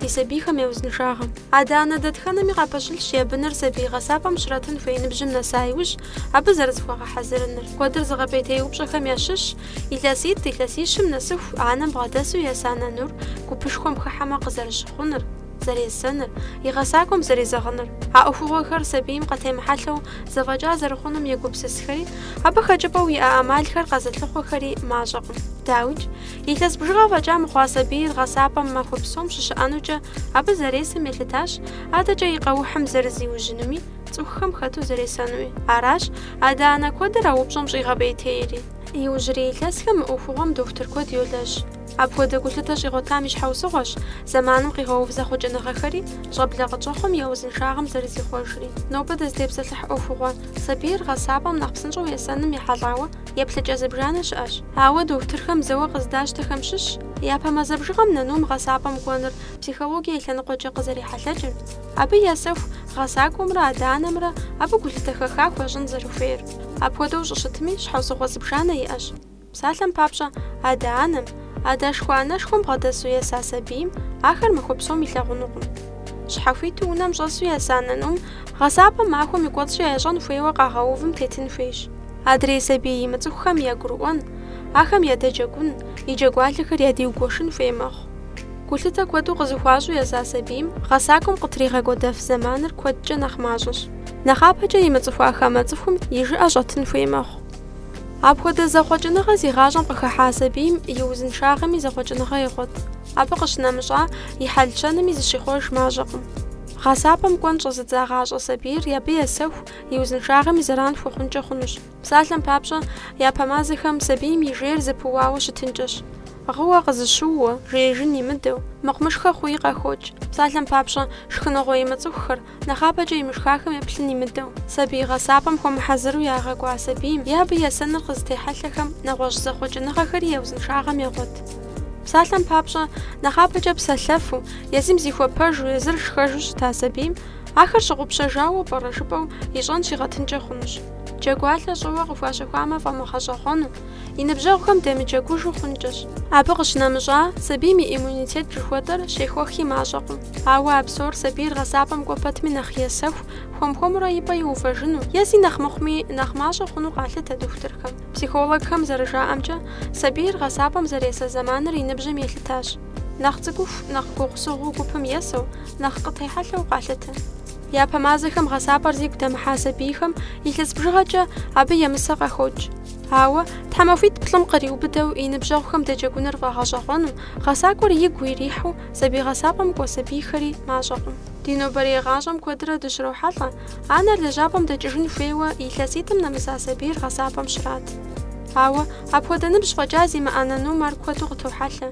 ди сабийхэм я узыншагъэм. Адэ-анэ дэтхэнэми къапэщылъщ я быныр сабий гъэсапӏэм щратын хуей ныбжьым нэса иужь, абы зэрызыхуагъэхьэзырыныр. Куэдыр зыгъэпӏейтей упщӏэхэм ящыщщ, илъэситӏ, илъэсищым нэсыху, анэм бгъэдэсу еса нанур, гупышхуэм хыхьэмэ къызэрыщыхъуныр, зэресэныр, и гъэсакӏуэм зэрезэгъыныр. А ӏуэхугъуэхэр сабийм къытемыхьэлъэу зэфӏэкӏа зэрыхъунум егупсысхэри, абы хэкӏыпӏэу иӏэ ӏэмалхэр къэзылъыхъуэхэри мащӏэкъым. Дауикӏ, Илъэс бжыгъэ фӏэкӏа мыхъуа сабийр гъэсапӏэм махуэ псом щыщыӏэнукӏэ абы зэресым елъытащ, адэкӏэ и къэухьым зэрызиужьынуми, цӏыхухэм хэту зэресэнуи. Аращ адэ-анэ куэдыр а упщӏэм щӏигъэпӏейтейри. Иужьрей илъэсхэм мы ӏуэхугъуэм дохутыр куэд йолэжь. Апхуэдэ гулъытэ щӏигъуэтам и щхьэусыгъуэщ зэманым къигъэув зэхъуэкӏыныгъэхэри, щӏэблэ къытщӏэхъуэм я узыншагъэм зэрызихъуэжри. Нобэ дызытепсэлъыхь ӏуэхугъуэ сабийр гъэсапӏэм нэхъ псынщӏэу есэным ехьэлӏауэ, еплъыкӏэ зыбжанэ щыӏэщ. Ауэ дохутырхэм зэуэ къыздащтэхэм щыщщ япэ мазэ бжыгъэм нанум гъэсапӏэм кӏуэныр психологие и лъэныкъуэкӏэ къызэрехьэлъэкӏыр. Абы есэху гъэсакӏуэмрэ адэ-анэмрэ абы гулъытэ хэха хуащӏын зэрыхуейр. Апхуэдэу щӏыщытми, щхьэусыгъуэ зыбжанэ иӏэщ. Псалъэм папщӏэ, адэ-анэм, адэшхуэ-анэшхуэм бгъэдэсу еса сабийм ахэр махуэ псом илъагъунукъым. Щхьэхуиту унэм щӏэсу еса нанум гъэсапӏэм махуэм и кӏуэцӏкӏэ ящӏэн хуейуэ къагъэувым тетын хуейщ. Адрей сабий имыцӏыхухэм ягурыӏуэн, ахэм ядэджэгун, и джэгуалъэхэр ядиугуэшын хуей мэхъу. Гулъытэ куэду къызыхуащӏу еса сабийм гъэсакӏуэм къытригъэкӏуэдэф зэманыр куэдкӏэ нэхъ мащӏэщ. Нэхъапэкӏэ имыцӏыхуа хамэ цӏыхум и жыӏэ щӏэтын хуей мэхъу. Апхуэдэ зэхъуэкӏыныгъэ зи гъащӏэм къыхыхьа сабийм и узыншагъэми зэхъуэкӏыныгъэ егъуэт, абы къыщынэмыщӏа и хьэл-щэнми зыщихъуэж мащӏэкъым. Гъэсапӏэм кӏуэн щӏэзыдзагъащӏэ сабийр абы есэху, и узыншагъэми зэран хуэхъункӏэ хъунущ. Псалъэм папщӏэ, япэ мазэхэм сабийм и жейр зэпыуауэ щытынкӏэщ. Гъыуэ къызэщыууэ, жеижын имыдэу, мыхъумышхэ хъуи къахокӏ. Псалъэм папщӏэ, шхыныгъуэ имыцӏыхухэр, нэхъапэкӏэ имышхахэм еплъын имыдэу, сабий гъэсапӏэм хуэмыхьэзыру ягъэкӏуа сабийм е абы есэныр къызытехьэлъэхэм нэгъуэщӏ зэхъуэкӏыныгъэхэри я узыншагъэм егъуэт. Псалъэм папщӏэ, нэхъапэкӏэ псэлъэфу, езым зихуэпэжу, езыр шхэжу щыта сабийм Ахэр щыгъупщэжауэ пӏэрэ жыпӏэу ищӏэн щигъэтынкӏэ хъунущ. Джэгуалъэ щӏэуэ къыхуащэхуамэ фӏэмыгъэщӏэгъуэну, и ныбжьэгъухэм демыджэгужу хъункӏэщ. Абы къыщынэмыщӏа, сабийм и иммунитет жыхуэтӏэр щехуэхи мащӏэкъым. Ауэ а псор сабийр гъэсапӏэм кӏуэ пэтми нэхъ есэху, хуэм-хуэмурэ и пӏэ иувэжыну, е зи нэхъ мыхъуми, нэхъ мащӏэ хъуну къалъытэ дохутырхэм. Психологхэм зэрыжаӏэмкӏэ, сабийр гъэсапӏэм зэресэ зэманыр и ныбжьым елъытащ. Нэхъ цӏыкӏуху, нэхъ гугъусыгъуу гупым есэу, нэхъ къытехьэлъэу къалъытэ. Япэ мазэхэм гъэсапӏэр зигу дэмыхьа сабийхэм илъэс бжыгъэкӏэ абы емысэ къахокӏ. Ауэ, тхьэмахуитӏ-плӏым къриубыдэу и ныбжьэгъухэм деджэгуныр фӏэгъэщӏэгъуэну, гъэсакӏуэр игу ирихьу сабий гъэсапӏэм кӏуэ сабийхэри мащӏэкъым. Ди нобэрей гъащӏэм куэдрэ дыщрохьэлӏэ, анэр лэжьапӏэм дэкӏыжын хуейуэ илъэситӏым нэмыса сабийр гъэсапӏэм щрат. Ауэ, Апхуэдэ ныбжь фӏэкӏа зимыӏэ нанум ар куэду къытохьэлъэ,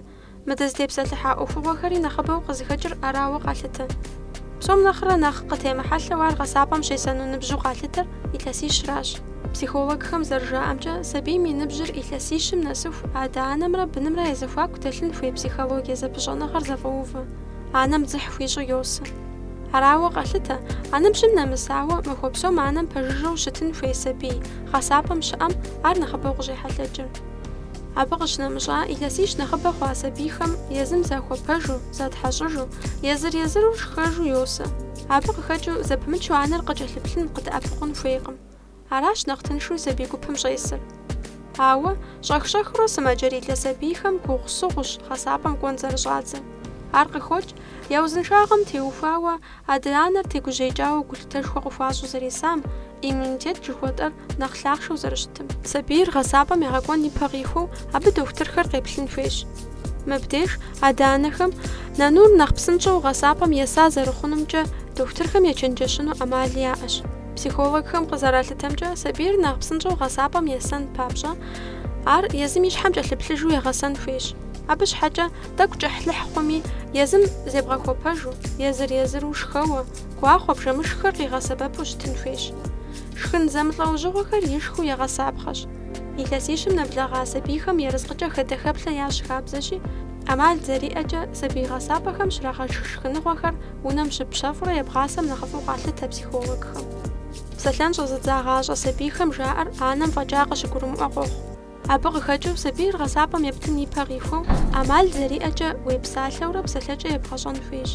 мы дызытепсэлъыхьа ӏуэхугъуэхэри нэхъыбэу къызыхэкӏыр арауэ къалъытэ. Псом нэхърэ нэхъ къытемыхьэлъэу ар гъэсапӏэм щесэну ныбжьу къалъытэр илъэсищращ. Психологхэм зэрыжаӏэмкӏэ, сабийм и ныбжьыр илъэсищым нэсыху адэ-анэмрэ бынымрэ я зэхуаку дэлъын хуей психологие зэпыщӏэныгъэр зэфӏэувэ, анэм дзыхь хуищӏу йосэ. Арауэ къалъытэ, а ныбжьым нэмысауэ, махуэ псом анэм пэжыжьэу щытын хуей сабий, гъэсапӏэм щыӏэм ар нэхъыбэу къыщӏехьэлъэкӏыр. Абы къыщынэмыщӏа, илъэсищ нэхъыбэ хъуа сабийхэм езым захуэпэжу, затхьэщӏыжу, езыр-езыру шхэжу йосэ. Абы къыхэкӏыу зэпымычу анэр къыкӏэлъыплъын, къыдэӏэпыкъун хуейкъым. Аращ нэхъ тыншу сабий гупым щӏесыр. Ауэ, щӏэх-щӏэхыурэ сымаджэрилэ сабийхэм гугъусыгъущ гъэсапӏэм кӏуэн зэрыщӏадзэр. Ар къыхокӏ, я узыншагъэм теухуауэ, адэ-анэр тегужьеикӏауэ гулъытэшхуэ къыхуащӏу зэресам, иммунитет жыхуэтӏэр нэхъ лъахъшэу зэрыщытым. Сабийр гъэсапӏэм ягъэкӏуэн ипэ къихуэу абы дохутырхэр къеплъын хуейщ. Мыбдеж адэ-анэхэм нанур нэхъ псынщӏэу гъэсапӏэм еса зэрыхъунумкӏэ дохутырхэм ечэнджэщыну ӏэмали яӏэщ. Психологхэм къызэралъытэмкӏэ, сабийр нэхъ псынщӏэу гъэсапӏэм есэн папщӏэ, ар езым и щхьэм кӏэлъыплъыжу егъэсэн хуейщ. Абы щхьэкӏэ Тӏэкӏу кӏыхьлыхь хъуми, езым зебгъэхуэпэжу, езыр-езыру шхэуэ, гуахъуэ, бжэмышххэр къигъэсэбэпу щытын хуейщ. Шхын зэмылӏэужьыгъуэхэр ишхыу егъэсапхъэщ. Илъэсищым нэблэгъа сабийхэм ерыскъыкӏэ хэдэ-хэплъэ ящӏ хабзэщи, ӏэмал зэриӏэкӏэ, сабий гъэсапӏэхэм щрагъэшх шхыныгъуэхэр унэм щыбпщэфӏурэ ебгъасэм нэхъыфӏу къалъытэ психологхэм. Псэлъэн щӏэзыдзагъащӏэ сабийхэм жаӏэр анэм фӏэкӏа къыщыгурымыӏуэ къохъу. Абы къыхэкӏыу сабийр гъэсапӏэм ептын ипэ къихуэу, ӏэмал зэриӏэкӏэ, уепсалъэурэ псэлъэкӏэ ебгъэщӏэн хуейщ.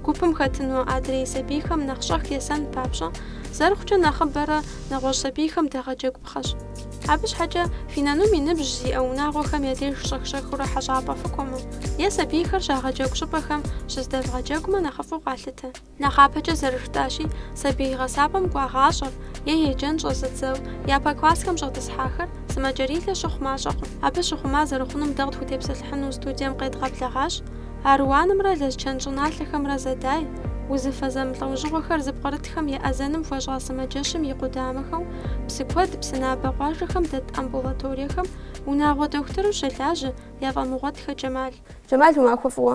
Гупым хэтыну адрей сабийхэм нэхъ щӏэх есэн папщӏэ, зэрыхъукӏэ нэхъыбэрэ нэгъуэщӏ сабийхэм дэгъэджэгупхъэщ. Абы щхьэкӏэ фи нанум и ныбжь зиӏэ унагъуэхэм я деж щӏэх-щӏэхыурэ хьэщӏапӏэ фыкӏуэмэ, е сабийхэр щагъэджэгу щӏыпӏэхэм щыздэвгъэджэгумэ нэхъыфӏу къалъытэ. Нэхъапэкӏэ зэрыжытӏащи, сабий гъэсапӏэм кӏуагъащӏэр е еджэн щӏэзыдзэу япэ классхэм щӏэтӏысхьахэр сымаджэрилэ щыхъу мащӏэкъым. Абы щыхъума зэрыхъунум дэ къытхутепсэлъыхьыну студием къедгъэблэгъащ Аруанымрэ Лэскэн щӏыналъэхэмрэ зэдай, узыфэ зэмылӏэужьыгъуэхэр зыпкърытхэм еӏэзэным хуэщӏа сымаджэщым и къудамэхэу, Псыкуэд, Псынабэ къуажэхэм дэт амбулаториехэм унагъуэ дохутыру щылажьэ Афӏэмыгъуэтхэ Джэмал. Джэмал, уи махуэ фӏыуэ!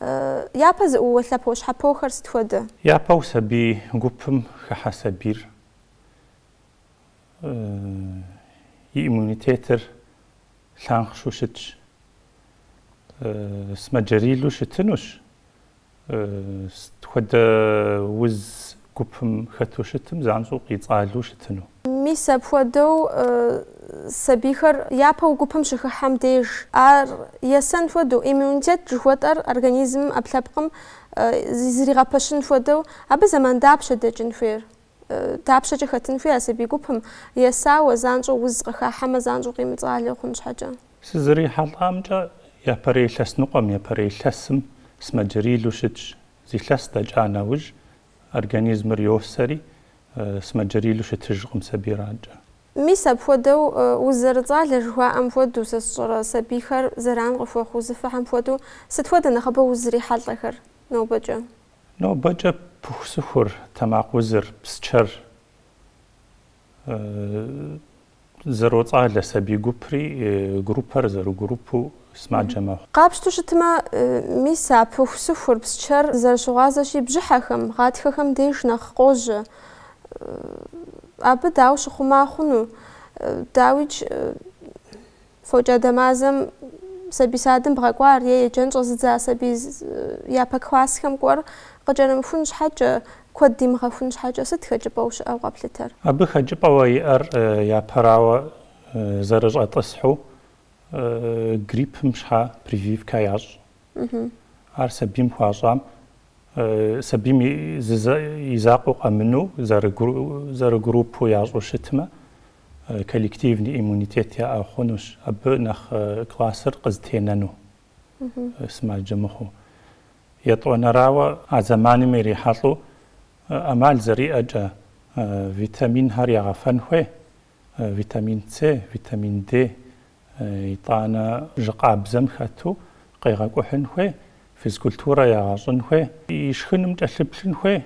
Япэ зыӏууэ лъэпощхьэпохэр сыт хуэдэ? Япэу сабий гупым хыхьэ сабийр и иммунитетыр лъанхъшэу щытщ. Сымаджэрилу щытынущ, сыт хуэдэ уз гупым хэту щытым занщӏэу къицӏалэу щытыну. Мис апхуэдэу сабийхэр япэу гупым щыхыхьэм деж, ар есэн хуэдэу, иммунитет жыхуэтӏэр организмым, ӏэпкълъэпкъым зригъэпэщын хуэдэу, абы зэман дапщэ дэкӏын хуейр? Дапщэкӏэ хэтын хуей а сабий гупым? Есауэ, занщӏэу уз къыхахьэмэ, занщӏэу къимыцӏалэу хъун щхьэкӏэ. Сызэрихьэлӏамкӏэ, япэрей илъэс ныкъуэм, япэрей илъэсым сымаджэрилу щытщ. Зы илъэс дэкӏа нэужь, организмыр йосэри, Сымаджэрилу щытыжкъым сабийр адэкӏэ. Мис апхуэдэу, уз зэрыцӏалэ жыхуаӏэм хуэдэу, сэ сщӏэрэ, сабийхэр зэран къыхуэхъу узыфэхэм хуэдэу, сыт хуэдэ нэхъыбэу узрихьэлӏэхэр нобэкӏэ? Нобэкӏэ пыхусыхур, тэмакъ узыр, псчэр. Зэроцӏалэ сабий гупри группэр зэрыгруппу сымаджэ мэхъу. Къапщту щытмэ, мис а пыхусыхур, псчэр зэрыщыгъуазэщи, бжьыхьэхэм, гъатхэхэм деж нэхъ къожьэ. Абы дауэ щыхъума хъуну? Дауикӏ, Фокӏадэ мазэм сабий садым бгъэкӏуар е еджэн щӏэзыдза сабий япэ классхэм кӏуэр къыкӏэрымыхун щхьэкӏэ, куэд димыгъэхун щхьэкӏэ сыт хэкӏыпӏэу щыӏэу къэплъытэр? Абы хэкӏыпӏэуэ иӏэр япэрауэ зэрыщӏэтӏысхьу гриппым щхьэ прививкэ ящӏ. Ар сабийм хуащӏам, сабийм и закъуэу къэмыну зэрыгруппэу ящӏу щытмэ, коллективный иммунитет яӏэ хъунущ, абы нэхъ классыр къызтенэну сымаджэ мыхъуу. Етӏуанэрауэ, а зэманым ирихьэлӏэу ӏэмал зэриӏэкӏэ, витаминхэр ягъэфэн хуей, витамин С, витамин Д, итӏанэ жьы къабзэм хэту къегъэкӏухьын хуей, физкультурэ ягъэщӏын хуей, ишхыным кӏэлъыплъын хуей.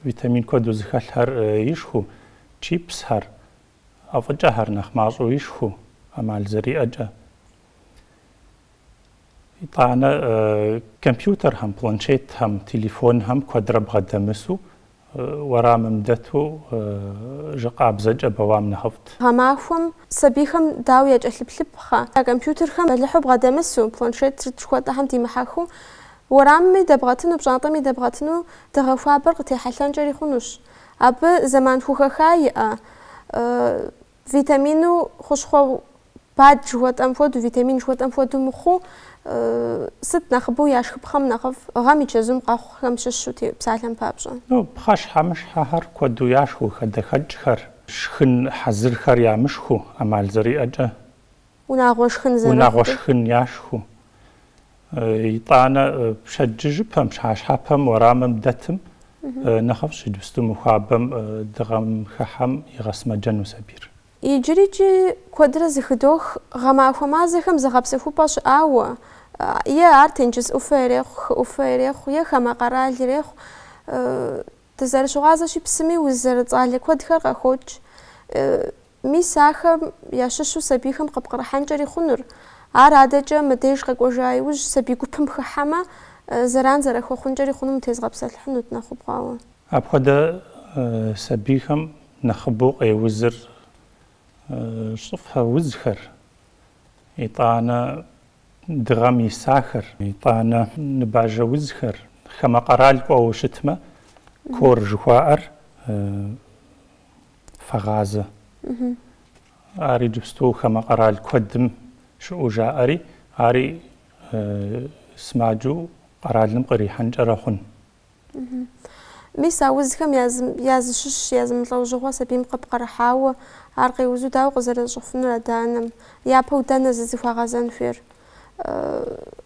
Витамин куэду зыхэлъхэр ишхыу, чипсхэр, ӏэфӏыкӏэхэр нэхъ мащӏэу ишхыу, ӏэмал зэриӏэкӏэ. Итӏанэ компьютерхэм, планшетхэм, телефонхэм куэдрэ бгъэдэмысу, уэрамым дэту жьы къабзэкӏэ бэуам нэхъыфӏт. Гъэмахуэм сабийхэм дауэ якӏэлъыплъыпхъэ? Компьютерхэм бэлыхьу бгъэдэмысу, планшет сыт жыхуэтӏэхэм димыхьэхыу, Уэрамми дэбгъэтыну, пщӏантӏэми дэбгъэтыну дыгъэ хуабэр къытехьэлъэнкӏэри хъунущ. Абы зэман хухэха иӏэ, витамину хущхъуэ бад жыхуэтӏэм хуэдэу, витамин жыхуэтӏэм хуэдэу мыхъуу, сыт нэхъыбэу яшхыпхъэм нэхъыфӏ, гъэм и чэзум къэхъухэм щыщу, псалъэм папщӏэ. Пхъэщхьэмыщхьэхэр куэду яшхыу, хадэхэкӏхэр, шхын хьэзырхэр ямышхыу, ӏэмал зэриӏэкӏэ Унагъуэ шхын зэрыхъукӏэ. Унагъуэ шхын яшхыу. Итӏанэ пщэдджыжьыпэм, пщыхьэщхьэпэм, уэрамым дэтым нэхъыфӏщ, иджыпсту мыхуабэм дыгъэм хыхьэм игъэсымэджэну сабийр. Иджырикӏи куэдрэ зыхыдох гъэмахуэ мазэхэм зыгъэпсэхупӏэ щыӏауэ, е ар тенджыз ӏуфэ ирехъу, хы ӏуфэ ирехъу, е хамэ къэрал ирехъу. Дызэрыщыгъуазэщи, псыми уз зэрыцӏалэ куэдхэр къэхокӏ. Мис ахэм ящыщу сабийхэм къыпкърыхьэнкӏэри хъунур. Ар адэкӏэ мы деж къэкӏуэжа иужь сабий гупым хыхьэмэ, зэран зэрахуэхъункӏэри хъунум тезгъэпсэлъыхьынут нэхъыбгъуауэ. Апхуэдэ сабийхэм нэхъыбэу къеузыр щӏыфэ узхэр, итӏанэ дыгъэм исахэр, итӏанэ ныбажэ узхэр, хамэ къэрал кӏуэуэ щытмэ, корь жыхуаӏэр, фэгъазэ. Ар иджыпсту хамэ къэрал куэдым щыӏэу жаӏэри, ари сымаджэу къэралым кърихьэнкӏэрэ хъун. Мис а узхэм я зыщыщ язымылӏэужьыгъуэ сабийм къыпкърыхьауэ, ар къеузу дауэ къызэрищӏэфынур адэ-анэм? Япэу дэнэ зызыхуагъэзэн хуейр?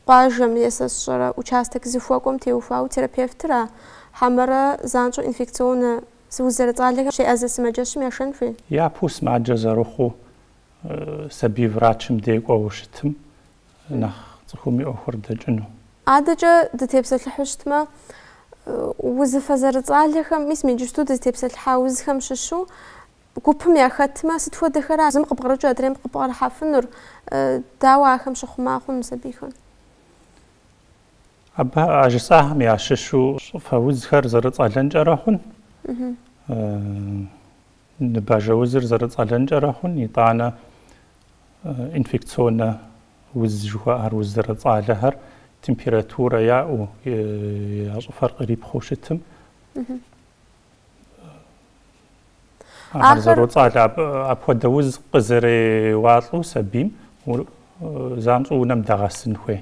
Къуажэм е сэ сщӏэрэ участок зыхуэкӏуэм теухуауэ терапевтыра, хьэмэрэ занщӏэу инфекционнэ Зы уз зэрыцӏалэхэм щеӏэзэ сымаджэщым яшэн хуей? Япэу сымаджэ зэрыхъуу сабий врачым дей кӏуэуэ щытым нэхъ цӏыхум и ӏуэхур дэкӏыну. Адэкӏэ дытепсэлъыхьу щытмэ, узыфэ зэрыцӏалэхэм, мис иджыпсту дызытепсэлъыхьа узхэм щыщу гупым яхэтмэ, сыт хуэдэхэра зым къыбгърыкӏыу адрейм къыпкърыхьэфынур, дауэ ахэм щыхъума хъуну сабийхэр? Абы а жысӏахэм ящыщу щӏыфэ узхэр зэрыцӏэлэнкӏэрэ хъун, ныбажэ узыр зэрыцӏэлэнкӏэрэ хъун, итӏанэ инфекционнэ уз жыхуаӏэр уз зэрыцӏалэхэр температурэ яӏэу, я щӏыфэр кърипхъыу щытым, ар зэроцӏалэ апхуэдэ уз къызэреуалӏэу сабийм занщӏэу унэм дагъэсын хуей.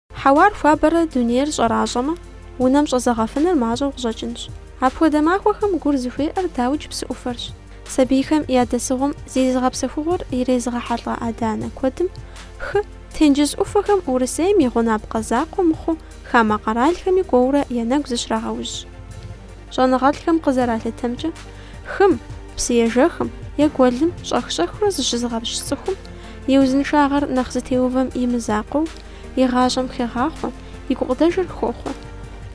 Хьэуар хуабэрэ дунейр щӏэращӏэмэ, унэм щӏэзэгъэфыныр мащӏэу къыщӏэкӏынщ. Апхуэдэ махуэхэм гур зыхуеӏэр дауи псы ӏуфэрщ. Сабийхэм я дэсыгъуэм зи зыгъэпсэхугъуэр ирезыгъэхьэлӏэ адэ-анэ куэдым, хы, тенджыз ӏуфэхэм Урысейм и гъунапкъэ закъуэ мыхъуу хамэ къэралхэми кӏуэурэ я нэгу зыщрагъэужь. Щӏэныгъэлӏхэм къызэралъытэмкӏэ, хым, псыежэхым, е гуэлым щӏэх-щӏэхыурэ зыщызыгъэпскӏ цӏыхум и узыншагъэр нэхъ зытеувэм и мызакъуэу, И гъащӏэм хегъахъуэ, и гукъыдэжыр хохъуэ.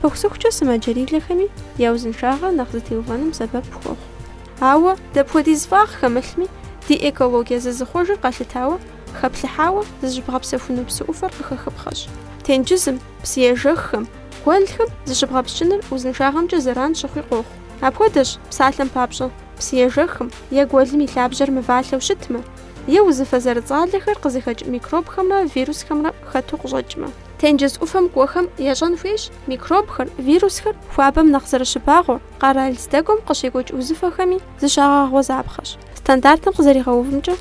Пыхусыхукӏэ сымаджэрилэхэми я узыншагъэр нэхъ зытеувэным сэбэп хуохъу. Ауэ дапхуэдиз фӏагъ хэмылъми, ди экологие зызыхъуэжыр къэлъытауэ, хэплъыхьауэ зыщыбгъэпсэхуну псы ӏуфэр къыхэхыпхъэщ. Тенджызым, псыежэххэм, гуэлхэм зыщыбгъэпскӏыныр узыншагъэмкӏэ зэран щыхъуи къохъу. Апхуэдэщ, псалъэм папщӏэ, псыежэхым е гуэлым и лъабжьэр мывалъэу щытмэ, е узыфэ зэрыцӏалэхэр къызыхэкӏ микробхэмрэ вирусхэмрэ хэту къыщӏэкӏмэ. Тенджыз ӏуфэм кӏуэхэм ящӏэн хуейщ микробхэр, вирусхэр хуабэм нэхъ зэрыщыбагъуэр, къэрал здэкӏуэм къыщекӏуэкӏ узыфэхэми зыщагъэгъуэзапхъэщ. Стандартым къызэригъэувымкӏэ,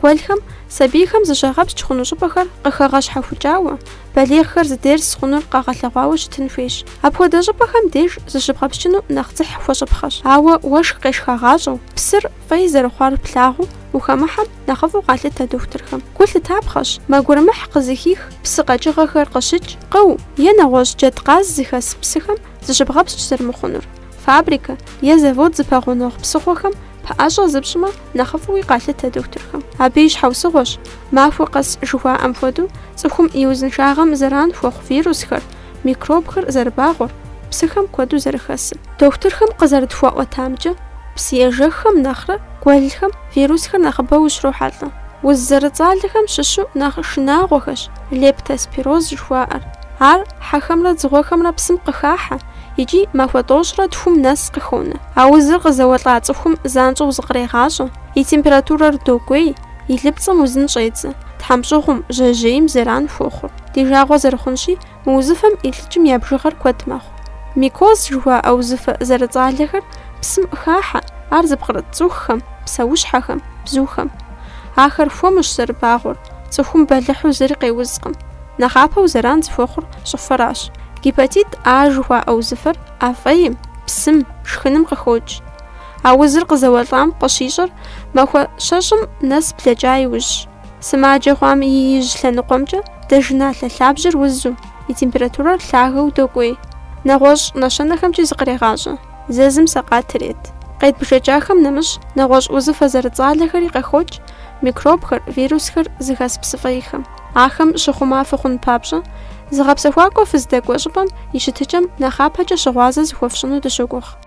гуэлхэм сабийхэм зыщагъэпскӏ хъуну щӏыпӏэхэр къыхэгъэщхьэхукӏауэ, балигъхэр здес хъунур къэгъэлъэгъуауэ щытын хуейщ. Апхуэдэ щӏыпӏэхэм деж зыщыбгъэпскӏыну нэхъ дзыхь хуэщӏыпхъэщ, ауэ уэшх къешхагъащӏэу, псыр, Фӏей зэрыхъуар плъагъуу, ухэмыхьэм нэхъыфӏу къалъытэ дохутырхэм. Гу лъытапхъэщ, мэ гурымыхь къызыхих псы къэкӏыгъэхэр къыщыкӏ, къыу, е нэгъуэщӏ джэдкъаз зыхэс псыхэм зыщыбгъэпскӏ зэрымыхъунур. Фабрикэ е завод зыпэгъунэгъу псыхъуэхэм пэӏэщӏэ зыпщӏмэ, нэхъыфӏуи къалъытэ дохутырхэм. Абы и щхьэусыгъуэщ, махуэ къэс жыхуаӏэм хуэдэу, цӏыхум и узыншагъэм зэран хуэхъу вирусхэр, микробхэр зэрыбагъуэр, псыхэм куэду зэрыхэсыр. Дохутырхэм къызэрытхуаӏуэтамкӏэ, псыежэххэм нэхърэ гуэлхэм вирусхэр нэхъыбэу ущрохьэлӏэ. Уз зэрыцӏалэхэм щыщу нэхъ шынагъуэхэщ лептоспироз жыхуаӏэр. Ар хьэхэмрэ дзыгъуэхэмрэ псым къыхахьэ икӏи махуэ тӏощӏрэ тхум нэс къыхонэ. А узыр къызэуэлӏа цӏыхум занщӏэу зыкърегъащӏэ, и температурэр докӏуей, и лыпцӏэм узын щӏедзэ, тхьэмщӏыгъум, жьэжьейм зэран хуохъур. Ди жагъуэ зэрыхъунщи, мы узыфэм илӏыкӏым я бжыгъэр куэд мэхъу. Микоз жыхуаӏэ узыфэ зэрыцӏалэхэр псым хахьэ, ар зыпкърыт цӏыхухэм, псэущхьэхэм, бзухэм. Ахэр хуэмущ зэрыбагъуэр, цӏыхум бэлыхьу зыри къеузкъым. Нэхъапэу зэран зыхуэхъур щӏыфэращ. Гепатит А жыхуаӏэ узыфэр ӏэ фӏейм, псым, шхыным къыхокӏ. А узыр къызэуэлӏам къыщищӏэр махуэ щэщӏым нэс блэкӏа иужьщ. Сымаджэ хъуам и ижь лъэныкъуэмкӏэ дзажэналъэ лъабжьэр узу, и температурэр лъагэу докӏуей. Нэгъуэщӏ нэщэнэхэмкӏи зыкърегъащӏэ, зэзым сэкъат ирет. Къедбжэкӏахэм нэмыщӏ, нэгъуэщӏ узыфэ зэрыцӏалэхэри къыхокӏ, микробхэр, вирусхэр зыхэс псыфӏейхэм. Ахэм щыхъума фыхъун папщӏэ, зыгъэпсэхуакӏуэ фыздэкӏуэ щӏыпӏэм и щытыкӏэм нэхъапэкӏэ щыгъуазэ зыхуэфщӏыну дыщогугъ.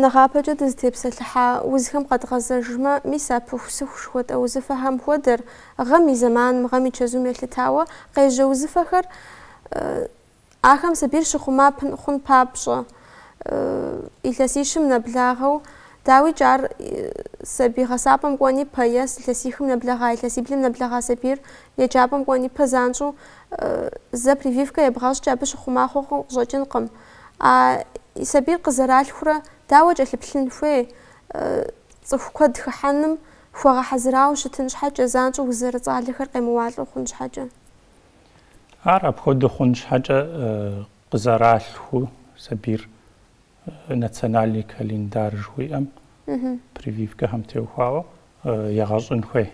Нэхъапэкӏэ дызытепсэлъыхьа узхэм къэдгъэзэжмэ, мис а пыхусыху жыхуэтӏэ узыфэхэм хуэдэр, гъэм и зэманым, гъэм и чэзум елъытауэ къежьэ узыфэхэр, ахэм сабийр щыхъума хъун папщӏэ, илъэсищым нэблагъэу, дауикӏ, ар сабий гъэсапӏэм кӏуэн ипэ е илъэсихым нэблэгъа, илъэсиблым нэблэгъа сабийр еджапӏэм кӏуэн ипэ занщӏэу зэ прививкэ ебгъэщӏкӏэ абы щыхъума хъууэ къыщӏэкӏынкъым. А и сабийр къызэралъхурэ дауэ кӏэлъыплъын хуей? Цӏыху куэд хыхьэным хуэгъэхьэзырауэ щытын щхьэкӏэ, занщӏэу уз зэрыцӏалэхэр къемыуалӏэу хъун щхьэкӏэ. Ар апхуэдэу хъун щхьэкӏэ къызэралъхуу сабийр национальный календарь жыхуиӏэм, прививкэхэм теухуауэ, егъэщӏын хуей.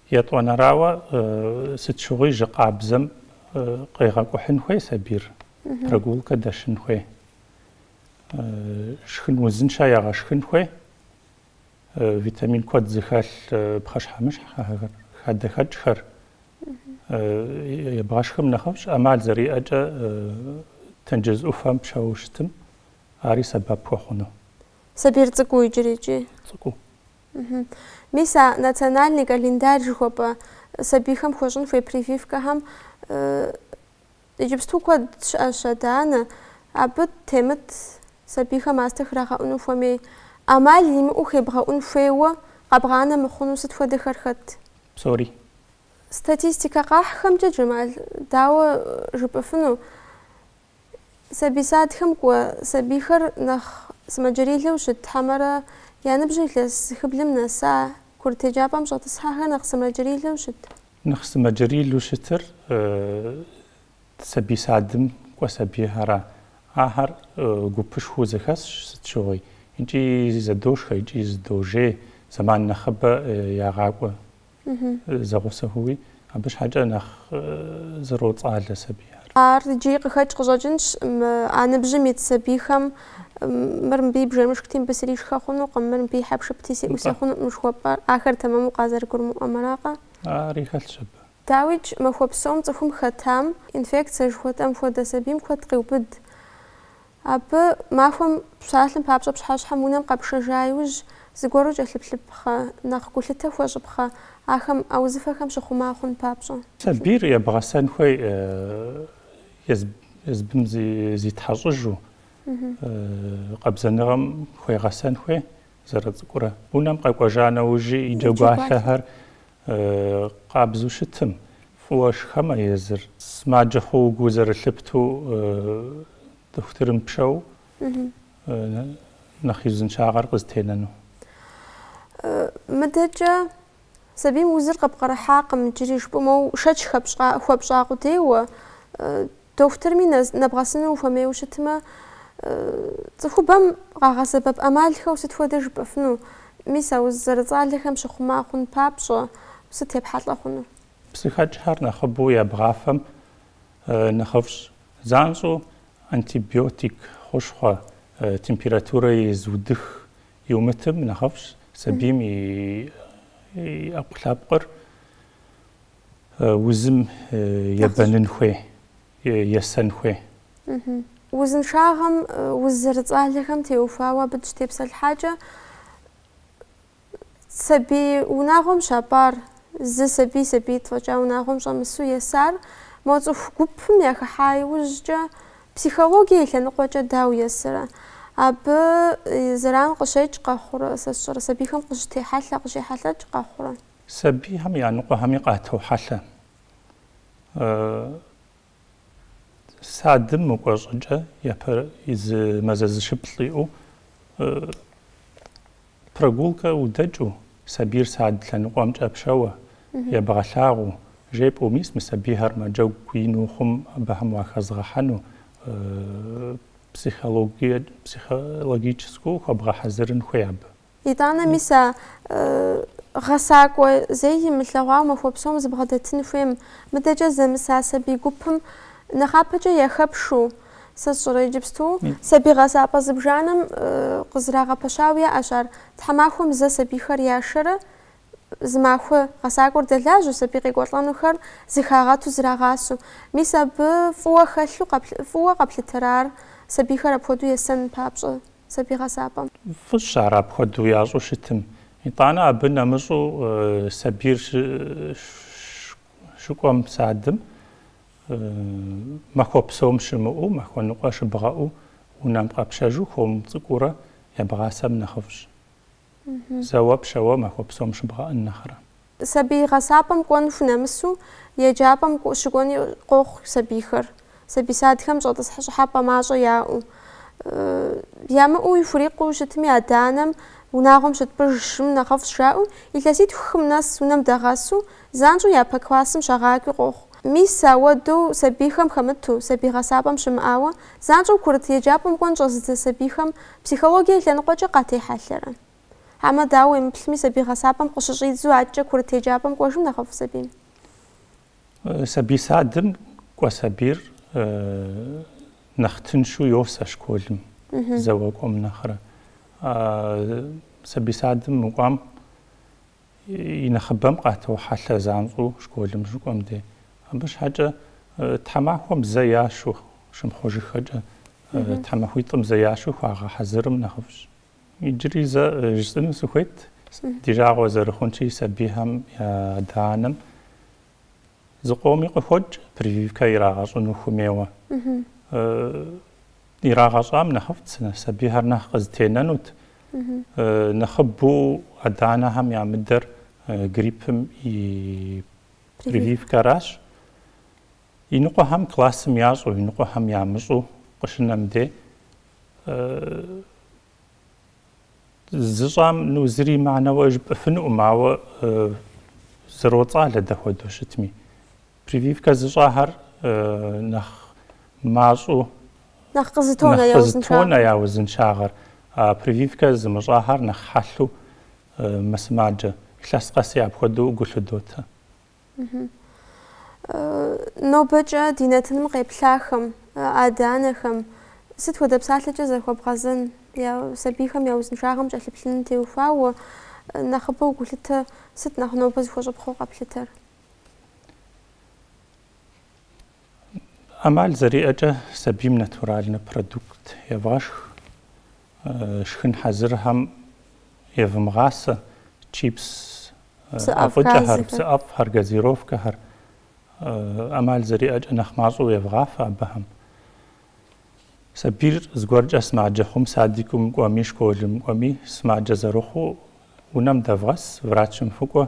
Етӏуанэрауэ, сыт щыгъуи жьы къабзэм къегъэкӏухьын хуей сабийр, прогулкэ дэшын хуей, шхын узыншэ егъэшхын хуей, витамин куэд зыхэлъ пхъэщхьэмыщхь хадэхэкӏхэр ебгъэшхым нэхъыфӏщ, ӏэмал зэриӏэкӏэ тенджыз ӏуфэм пшэу щытым ари сэбэп хуэхъуну. Сабийр цӏыкӏуу иджыри икӏи? Цӏыкӏуу. Мис а национальный календарь жыхуэпӏэ сабийхэм хуэщӏын хуей прививкэхэм иджыпсту куэд щыӏэщ адэ-анэ. Абы темыт сабийхэм мастэ храгъэӏуну хуэмей, ӏэмал имыӏэу хебгъэӏун хуейуэ къэбгъанэ мыхъуну сыт хуэдэхэр хэт? Псори. Статистикэ къахьхэмкӏэ, Джэмал, дауэ жыпӏэфыну, Сабий садхэм кӏуэ сабийхэр нэхъ сымаджэрилэу щыт хьэмэрэ я ныбжьыр илъэс зыхыблым нэса курыт еджапӏэм щӏэтӏысхьэхэр нэхъ сымаджэрилэу щыт? Нэхъ сымаджэрилэу щытыр сабий садым кӏуэ сабийхэра. Ахэр гупышхуэу зэхэсщ, сыт щыгъуи икӏи зэдошхэ, икӏи зэдожей, зэман нэхъыбэ ягъакӏуэ. зэгъусэхэуи, абы щхьэкӏэ нэхъ зэроцӏалэ сабийхэр. Ар иджыри къыхэкӏ къыщӏэкӏынщ а ныбжьым ит сабийхэм, мыр мыбы и бжэмышхти, мыбы сришхэ хъунукъым, мыр мыбы и хьэпшыпти, сеӏусэ хъунукъым жыхуэпӏэр, ахэр тэмэму къазэрыгурымыӏуэмэракъэ? Ари хэлъщ абы. Дауикӏ, махуэ псом цӏыхум хэтам, инфекцэ жыхуэтӏэм хуэдэ сабийм куэд къеубыд. Абы махуэм псалъэм папщӏэ пщыхьэщхьэм унэм къэпшэжа иужь, зыгуэру кӏэлъыплъыпхъэ, нэхъ гулъытэ хуэщӏыпхъэ, ахэм а узыфэхэм щыхъума хъун папщӏэ. Сабийр ебгъэсэн хуей езыбым зитхьэщӏыжу, къабзэныгъэм хуегъэсэн хуей зэрыцӏыкӏурэ. Унэм къэкӏуэжа нэужьи и джэгуалъэхэр. Къабзу щытым, фӏыуэ шхэмэ езыр. Сымаджэ хъууэ гу зэрылъыптэу дохутырым пшэу нэхъ и узыншагъэр къызэтенэну? Мыдэкӏэ сабийм узыр къэпкърыхьакъым, иджыри жыпӏэмэ, шэч хуэпщӏа къудейуэ Дохутырми нэбгъэсыну ухуэмейуэ щытмэ, цӏыхубэм къагъэсэбэп ӏэмалхэу сыт хуэдэ жыпӏэфыну? Мис а уз зэрыцӏалэхэм щыхъума хъун папщӏэ, сыт епхьэлӏэ хъуну? Псыхэкӏхэр нэхъыбэу ебгъафэм нэхъыфӏщ. Занщӏэу антибиотик хущхъуэ, температурэ езыудых иумытым нэхъыфӏщ сабийм и ӏэпкълъэпкъыр. Узым ебэнын хуей, есэн хуей. Узыншагъэм уз зэрыцӏалэхэм теухуауэ абы дыщытепсэлъхьакӏэ, сабий унагъуэм щапӏар, зы сабий сабиитӏ фӏэкӏа унагъуэм щӏэмысу есар, мо цӏыху гупым яхыхьа иужькӏэ психологие и лъэныкъуэкӏэ дауэ есэрэ? Абы зэран къыщекӏ къэхъурэ, сэ сщӏэрэ, сабийхэм къыщытехьэлъэ, къыщехьэлъэкӏ къэхъурэ? Сабийхэм я ныкъуэхэми къатохьэлъэ. Садым мыкӏуэ щӏыкӏэ япэ зы мазэ зыщыплӏ иӏэу прогулкэ удэкӏыу сабийр сад лъэныкъуэмкӏэ пшэуэ, ебгъэлъагъуу, жепӏэу мис мы сабийхэр мэджэгу ину хъум абыхэм уахэзгъэхьэну психологическэу хуэбгъэхьэзырын хуей абы. Итӏанэ мис а гъэсакӏуэ зэи имылъэгъуауэ махуэ псом зыбгъэдэтын хуейм. Мыдэкӏэ зэмыса сабий гупым нэхъапэкӏэ яхэпшу, сэ сщӏэрэ иджыпсту? Сабий гъэсапӏэ зыбжанэм къызрагъэпэщауэ яӏэщ ар. Тхьэмахуэм зэ сабийхэр яшэрэ зы махуэ гъэсакӏуэр дэлажьэу, сабий къекӏуэлӏэнухэр зыхагъэту зрагъасэу. Мис абы фӏыуэ хэлъу, фӏыуэ къэплъытэрэ ар, сабийхэр апхуэдэу есэн папщӏэ? сабий гъэсапӏэм. Фӏыщ ар апхуэдэу ящӏу щытым. Итӏанэ абы нэмыщӏу сабийр щыкӏуэм садым, махуэ псом щымыӏэу, махуэ ныкъуэ щыбгъэӏэу унэм къэпшэжу хуэм цӏыкӏуурэ ябгъасэм нэхъыфӏщ. Зэуэ пшэуэ махуэ псом щыбгъэӏэн нэхърэ. Сабий гъэсапӏэм кӏуэн хунэмысу, еджапӏэм щыкӏуэни къохъу сабийхэр, сабий садхэм щӏэтӏысхь щӏыхьэпӏэ мащӏэ яӏэу. Ямыӏэу яхурикъуу щытми, адэ-анэм унагъуэм щытпӏыжым нэхъыфӏщ жаӏэу, илъэситху-хым нэс унэм дагъэсу, занщӏэу япэ классым щагъакӏуи къохъу. Мис, ауэдэу сабийхэм хэмыту, сабий гъэсапӏэм щымыӏауэ, занщӏэу курыт еджапӏэм кӏуэн щӏэзыдзэ сабийхэм Психологие лъэныкъуэкӏэ къатехьэлъэрэ? Хьэмэ, дауэ уемыплъми, сабий гъэсапӏэм къыщыщӏидзу адэкӏэ курыт еджапӏэм кӏуэжым нэхъыфӏ сабийм? Сабий садым кӏуэ сабийр нэхъ тыншу йосэ школым зэуэ кӏуэм нэхърэ. Сабий садым мыкӏуам. и нэхъыбэм къатохьэлъэ занщӏэу школым щыкӏуэм де. Абы щхьэкӏэ тхьэмахуэм зэ яшу, щымыхъужыххэкӏэ, тхьэмахуитӏым зэ яшу хуагъэхьэзырым нэхъыфӏщ. Иджыри зэ жысӏэну сыхуейт, ди жагъуэ зэрыхъунщи, сабийхэм я адэ-анэм Зыкъоми къыхокӏ прививкэ ирагъэщӏыну хуэмейуэ. Ирагъэщӏам нэхъыфӏт сабийхэр нэхъ къызэтенэнут. Нэхъыбэу адэ-анэхэм ямыдэр гриппым и прививкэращ. Иныкъуэхэм классым ящӏу, иныкъуэхэм ямыщӏу къыщынэм де Зыщӏам ну зыри имыӏэну жыпӏэфынукъым, ауэ зэроцӏалэ дэ хуэдэу щытми. Прививкэ зыщӏахэр нэхъ мащӏэу нэхъ къызэтонэ я узыншагъэр. Прививкэ зымыщӏахэр нэхъ хьэлъэу мэсымаджэ. Илъэс къэси апхуэдэу гу лъыдотэ. Нобэкӏэ ди нэтыным къеплъахэм, адэ-анэхэм сыт хуэдэ псалъэкӏэ захуэбгъэзэн, сабийхэм я узыншагъэм кӏэлъыплъыным теухуауэ нэхъыбэу гулъытэ сыт нэхъ нобэ зыхуэщӏыпхъэу къэплъытэр? ӏэмал зэриӏэкӏэ сабийм натуральнэ продукт евгъэшх. Шхын хьэзырхэм евмыгъасэ чипс, ӏэфӏыкӏэхэр, псы ӏэфӏхэр, газировкэхэр. ӏэмал зэриӏэкӏэ нэхъ мащӏэу евгъафэ абыхэм. Сабийр зыгуэркӏэ сымаджэ хъум, садикум кӏуэми, школым кӏуэми, сымаджэ зэрыхъуу унэм дэвгъэс, врачым фыкӏуэ,